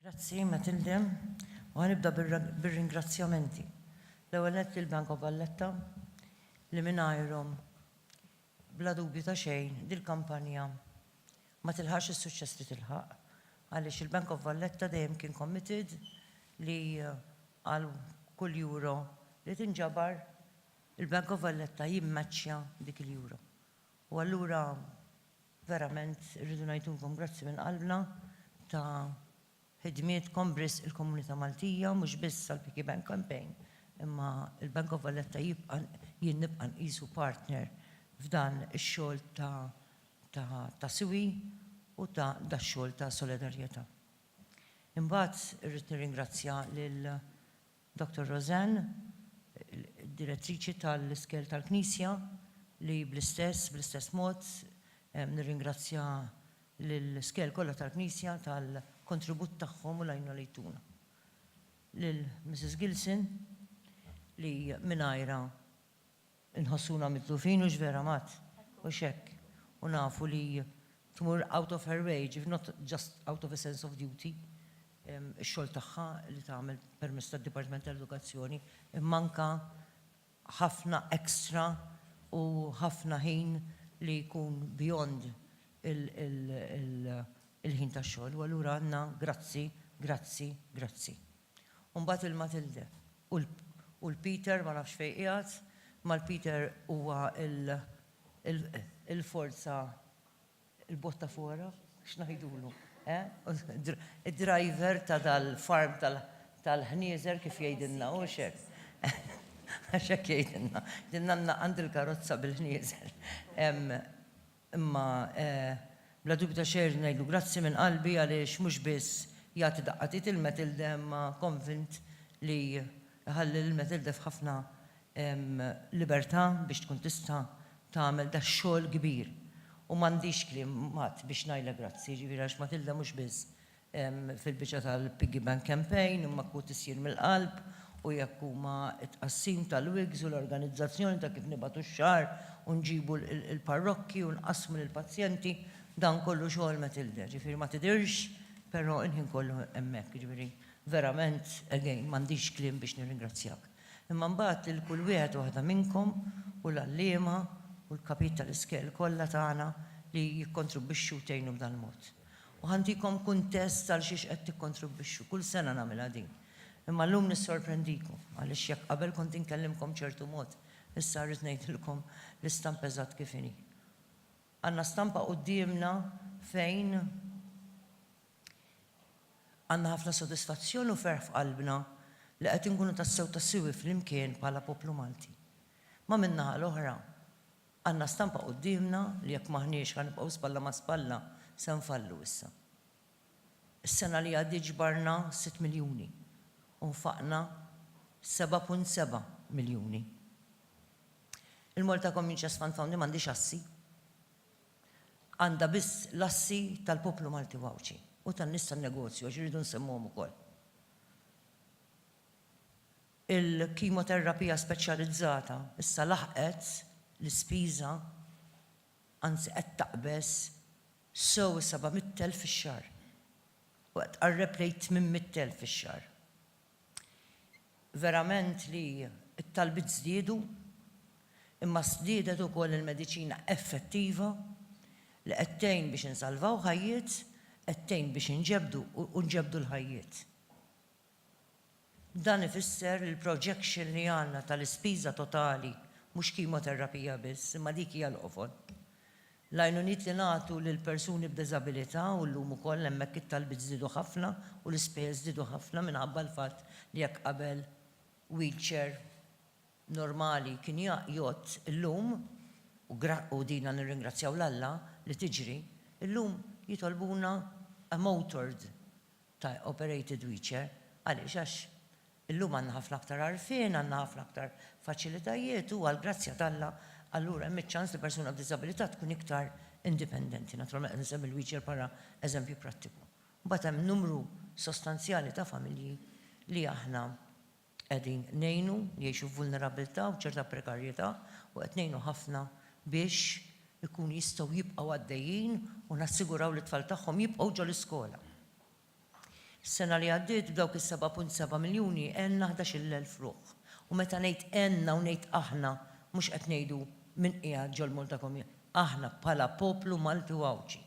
Grazzi, Matilde. U ħanibda bir-ringrazzjamenti. L-ewwel nett lill-Bank of Valletta li mingħajrhom bla dubju ta' xejn dil-kampanja ma tilħaqx is-suċċess li tilħaq għaliex il-Bank of Valletta dejjem kien committed li għal kull euro li tinġabar Il-Bank of Valletta jimmaċċja dik il-Euro. U allura verament irridu ngħidulkom grazzi minn qalbna ta' ħidmietkom b'risq il-komunità Maltija, mhux biss għall-Piggy Bank Campaign, imma il-Bank of Valletta jibqa' jien nibqa' nqisu partner f'dan ix-xogħol ta' ta' siwi u ta' dax-xogħol ta' solidarjetà. Imbagħad irrid nirringrazzja lil Doctor Roseanne, Direttriċi tal-Iskejjel tal-Knisja, li bl-istess, bl-istess mod, nirringrazzja lill-iskejjel kollha tal-Knisja tal-kontribut tagħhom u l-għajnuna li jtuna. Lil Mrs. Gilson, li mingħajrha, Inħossuna mitlufin u x'vera mat, u x'hekk, u nafu li tmur out of her way, ġifieri not just out of a sense of duty, ix-xogħol tagħha li tagħmel permezz tad-Dipartiment tal-Edukazzjoni, imma anke ħafna extra u ħafna ħin li jkun beyond il-ħin tax-xogħol. U allura għandna grazzi, grazzi, grazzi. U mbagħad il-Matilde. U l. U l-Peter ma nafx fejn qiegħed, imma l-Peter huwa l. Il-forza, il-botta fora, x'ngħidulu, eh? Id-driver ta' dal-farm tal-ħnieżer kif jgħidilna, hux hekk? Għax hekk jgħidilna. Jgħidilna għand il-karozza bil-ħnieżer hemm. Imma bla dubju ta' xejn irrid ngħidlu grazzi minn qalbi għaliex mhux biss jagħti daqqatit il-Matilde imma konvint li jħalli lill-Matilde f'ħafna libertà biex tkun tista' tagħmel dax-xogħol kbir. U m'għandix kliem qatt biex ngħidlha grazzi, jiġifieri għax Matilde mhux biss fil-biċċa tal-Piggy Bank Campaign imma kut issir mill-qalb u jekk huma t-tqassim tal-wigs u l-organizzazzjoni ta' kif nibagħtu x-xagħar u nġibu l-parrokki u nqassmu lill-pazjenti, dan kollu xogħol Matilde. Ġifieri ma tidhirx però l-ħin kollu hemmhekk, jiġifieri verament again m'għandix kliem biex nirringrazzjak. Imma mbagħad lil kull wieħed u waħda minnkom u l-għalliema u l-kapijiet tal-iskejjel kollha tagħna li jikkontribwixxu u tgħinu b'dal-mod. U ħa ntikom kuntest għalxiex qed tikkontribwixxu. Kull sena nagħmilha din. Imma llum nissorprendikom, għaliex jekk qabel kont inkellimkom b'ċertu mod, issa rrid ngħidilkom l-istampa eżatt kif inhi. Għandna stampa quddiemna fejn għandna ħafna sodisfazzjon u ferħ f'qalbna li qed inkunu tassew ta' siwi flimkien bħala poplu Malti. Imma min-naħa l-oħra, Għandna stampa quddiemna li jekk m'aħniex ħa nibqgħu spalla ma' spalla se nfallu issa. Is-sena li għaddiet ġbarna sitt miljuni u nfaqna seba' punt seba' miljuni. Il-Malta Communities Fund Founding m'għandhiex assi. Għandha biss l-assi tal-poplu Malti u Għawdxi u tan-nies tan-negozju għax irridu nsemmuhom ukoll. Il-kimoterapija speċjalizzata issa laħqet l-ispiża, anzi qed taqbeż sew is-seba' mitt elf fix-xahar u qed tqarreb lejn t-tmien mitt elf fix-xahar. Verament li t-talbiet żdiedu, imma żdiedet ukoll il-mediċina effettiva li qed tgħin biex insalvaw ħajjiet, qed tgħin biex inġebdu u nġebdu l-ħajjiet. Dan ifisser li l-projection li għandna tal-ispiża totali, mhux kimoterapija biss, imma dik hija l-qofol. L-għajnuniet li nagħtu lil persuni b'diżabilità, u llum ukoll hemmhekk it-talbiet żdiedu ħafna u l-ispejjeż żdiedu ħafna minħabba l-fatt li jekk qabel wheelchair normali kien jgħodd, illum, u dina nirringrazzjaw 'l Alla li tiġri, illum jitolbuna a motored. ta' operated wheelchair. Għaliex? Għax illum għandna ħafna aktar għarfien, għandna ħafna aktar faċilitajiet u għall-grazzja t'Alla allura hemm iċ-ċans li persuna b'diżabilità tkun iktar indipendenti. Naturalment qed insemmi l-wheelchair bħala eżempju prattiku. Imbagħad hemm numru sostanzjali ta' familji li aħna Qegħdin ngħinu li jgħixu f'vulnerabbiltà u ċerta prekarjetà u qed ngħinu ħafna biex ikunu jistgħu jibqgħu għaddejjin u nassiguraw li t-tfal tagħhom jibqgħu ġol-iskola. Is-sena li għaddiet b'dawk is-seba' punt seba' miljuni għenna ħdax-il elf ruħ u meta ngħid għenna u ngħid aħna mhux qed ngħidu min qiegħed ġol-Malta Community, aħna bħala poplu Malti u Għawdxi.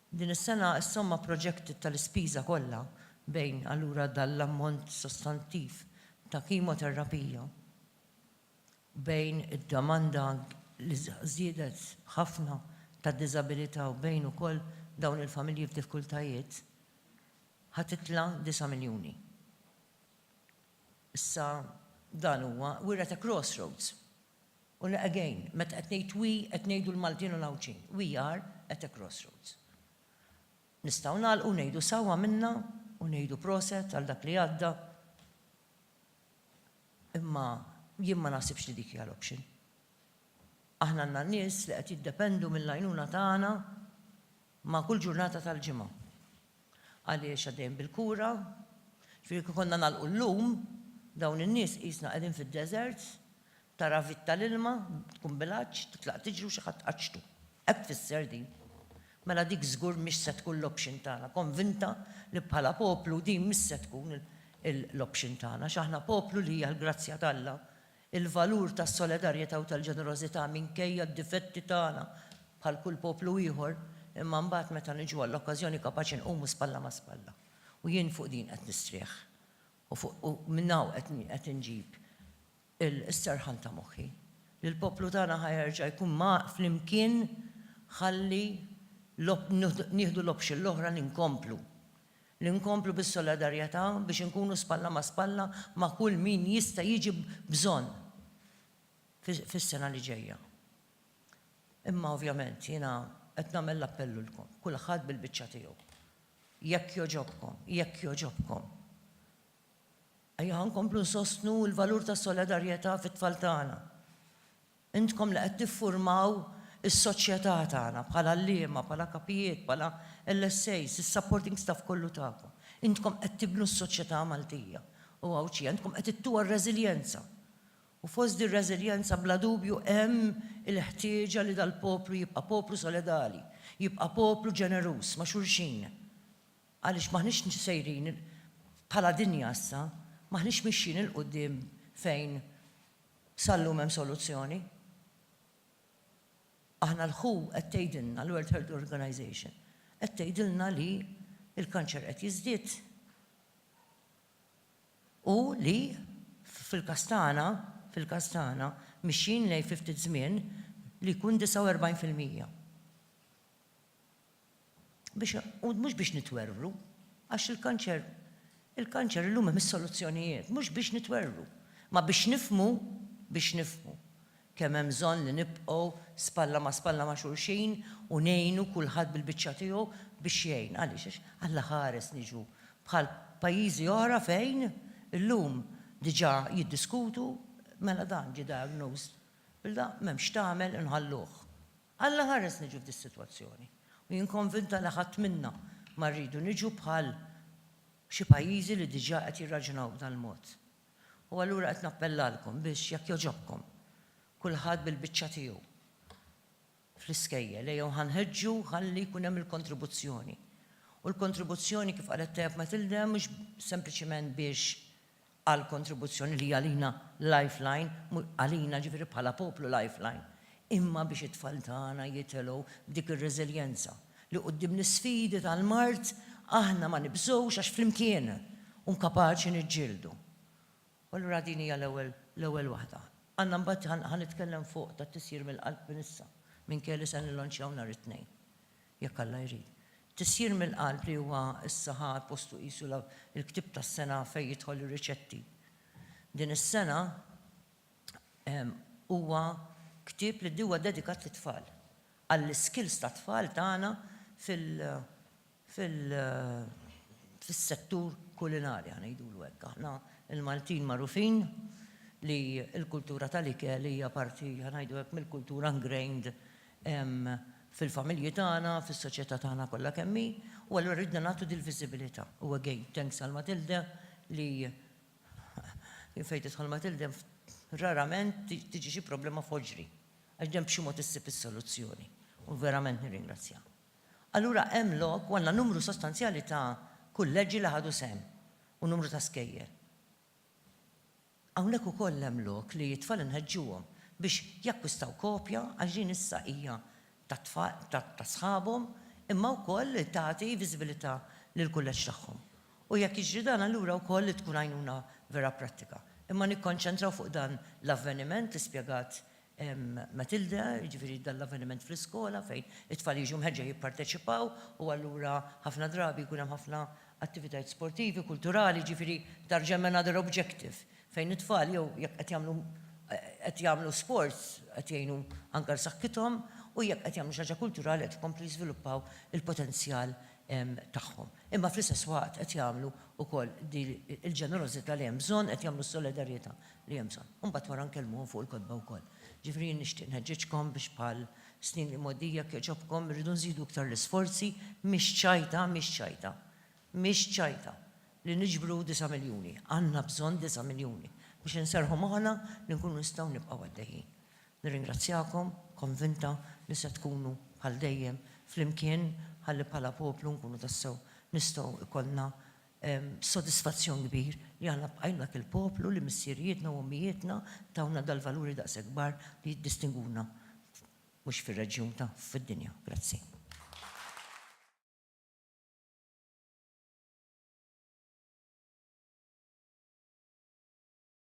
Din is-sena s-somma projected tal-ispiża kollha bejn allura dan l-ammont sostantiv ta' kimoterapija bejn id-domanda li żiedet ħafna tad-diżabilità u bejn ukoll dawn il-familji f'difkultajiet ħa titla' disa' miljuni. Issa dan huwa, we're at a crossroads. U le again, meta qed ngħid we qed ngħidu l-Maltin u l-Għawdxin. We are at a crossroads. Nistgħu nagħlqu u ngħidu sew għamilna u ngħidu proset għal dak li għadda. Imma jien ma naħsibx li dik hija l-option. Aħna għandna nies li qed jiddependu mill-għajnuna tagħna ma' kull ġurnata tal-ġimgħa. Għaliex għaddejjin bil-kura, ġifieri kieku konna nagħlqu llum, dawn in-nies qisna qegħdin fid-deżert, tara vit tal-ilma, tkun bil-għatx, titlaq tiġri u xi ħadd tqaċċtu. Hekk tfisser din. Mela dik żgur mhix se tkun l-option tagħna. Konvinta li bħala poplu din mhix se tkun l-option tagħna, għax aħna poplu li hija l-grazzja t'Alla Il-valur tas-solidarjetà u tal-ġenerożità minkejja d-difetti tagħna bħal kull poplu ieħor, imma mbagħad meta niġu għall-okkażjoni kapaċi nqumu spalla ma' spalla. U jien fuq din qed nistrieħ u fuq u minn hawn qed qed inġib is-serħan ta' moħħi li l-poplu tagħna ħa jerġa' jkun ma' flimkien ħalli l-op nieħdu l-option l-oħra li nkomplu li nkomplu bis-solidarjetà biex inkunu spalla ma' spalla ma' kull min jista' jiġi b'bżonn fis-sena li ġejja. Imma ovvjament jiena qed nagħmel l-appell lilkom, kulħadd bil-biċċa tiegħu. Jekk jogħġobkom, jekk jogħġobkom, ejja ħa nkomplu nsostnu l-valur tas-solidarjetà fit-tfal tagħna. Intkom li qed tiffurmaw is-soċjetà tagħna bħala għalliema, bħala kapijiet, bħala LSAs, is-supporting staff kollu tagħkom. Intkom qed tibnu s-soċjetà Maltija u Għawdxija. Intkom qed ittuha r-reżiljenza. U fost dir-reżiljenza bla dubju hemm il-ħtieġa li dal-poplu jibqa' poplu solidali, jibqa' poplu ġeneruż ma' xulxin. Għaliex m'aħniex sejrin, bħala dinja issa, m'aħniex mixjin 'il quddiem fejn Sal-lum hemm soluzzjoni? Aħna l-who qed tgħidilna, l-World Health Organization, qed tgħidilna li l-kanċer qed jiżdied u li fil-każ tagħna, fil-każ tagħna, mixjin lejn fi ftit żmien li jkun 49 fil-mija. biex u mhux biex nitwerwru, għax il-kanċer il-kanċer illum hemm is-soluzzjonijiet, mhux biex nitwerwru, imma biex nifhmu biex nifhmu kemm hemm bżonn li nibqgħu spalla ma' spalla ma' xulxin u ngħinu kulħadd bil-biċċa tiegħu biex jgħin. Għaliex? Għax Alla ħares niġu bħal pajjiżi oħra fejn illum diġà jiddiskutu mela dan ġie diagnosed bil-da, m'hemm x'tagħmel inħalluh. Alla ħares niġu f'dis-sitwazzjoni. U jien konvinta li ħadd minna ma rridu niġu bħal xi pajjiżi li diġà qed jirraġunaw b'dal-mod. U allura qed nappellalkom biex, jekk jogħġobkom, kulħadd bil-biċċa tiegħu fl-iskejjel, ejjew ħa nħeġġu ħalli jkun hemm il-kontribuzzjoni. U l-kontribuzzjoni, kif qalet tajjeb Matilde, mhux sempliċement biex għall-kontribuzzjoni li hija għalina lifeline, għalina ġifieri bħala poplu lifeline, imma biex it-tfal tagħna jitelgħu b'dik ir-reżiljenza li quddiem l-isfidi tal-mard aħna ma nibżgħux għax flimkien un kapaċi niġġieldu. U allura din hija l-ewwel l-ewwel waħda. Għandna mbagħad ħa nitkellem fuq tat-tisjir mill-qalb minn issa, minkejja li se nillonċjaw nhar it-Tnejn. jekk Alla jrid. Tisjir mill-qalb li huwa issa ħa postu qisu l-ktieb tas-sena fejn jidħol ir-riċetti. Din is-sena huwa ktieb li huwa dedikat lit-tfal, għall-iskills tat-tfal tagħna fil-settur kulinari, ħa ngħidulu hekk. Aħna l-Maltin magħrufin li l-kultura tal-ikel hija parti, ħa ngħidu hekk, mill-kultura ingrained hemm fil-familji tagħna, fis-soċjetà tagħna kollha kemm hi, u allura ridna nagħtu dil-viżibilità. U again, thanks għal Matilde li jien fejn tidħol Matilde rarament tiġi xi problema f'ħoġri, għax dejjem b'xi mod issib is-soluzzjoni, u verament nirringrazzjaha. Allura hemm lok u għandna numru sostanzjali ta' kulleġġi li ħadu sehem u numru ta' skejjel. Hawnhekk ukoll hemm lok li t-tfal inħeġġuhom biex jakkwistaw kopja għax din issa hija tat-tfal ta' sħabhom imma wkoll li tagħti viżibilità lill-kulleġġ tagħhom. U jekk jiġri dan allura wkoll li tkun għajnuna vera prattika. Imma nikkonċentraw fuq dan l-avveniment li spjegat Matilda, jiġifieri dan l-avveniment fl-iskola fejn it-tfal jiġu mħeġġa jipparteċipaw u allura ħafna drabi jkun hemm ħafna attivitajiet sportivi, kulturali, jiġifieri tarġa' hemm another objective fejn it-tfal jew jekk qed jagħmlu qed jagħmlu sports qed jgħinu anke għal saħħithom u jekk qed jagħmlu xi ħaġa kulturali qed ikomplu jiżviluppaw il-potenzjal tagħhom. Imma fl-istess waqt qed jagħmlu wkoll din il-ġenerożità li hemm bżonn, qed jagħmlu s-solidarjetà li hemm bżonn. U mbagħad wara nkellmuhom fuq il-kotba wkoll. Ġifieri jien nixtieq nħeġġiġkom biex bħal snin li mgħoddija jekk jogħġobkom irridu nżidu iktar l-isforzi, mhix ċajta, mhix ċajta, mhix ċajta li niġbru disa' miljuni. Għandna bżonn disa' miljuni biex inserrħu moħħna li nkunu nistgħu nibqgħu għaddejjin. Nirringrazzjakom, konvinta li se tkunu bħal dejjem flimkien ħalli bħala poplu nkunu tassew nistgħu jkollna B'sodisfazzjon kbir li aħna bqajna dak il-poplu li missierijietna u ommijietna tawna dal-valuri daqshekk kbar li jiddistinguna mhux fir-reġjun ta' fid-dinja. Grazzi.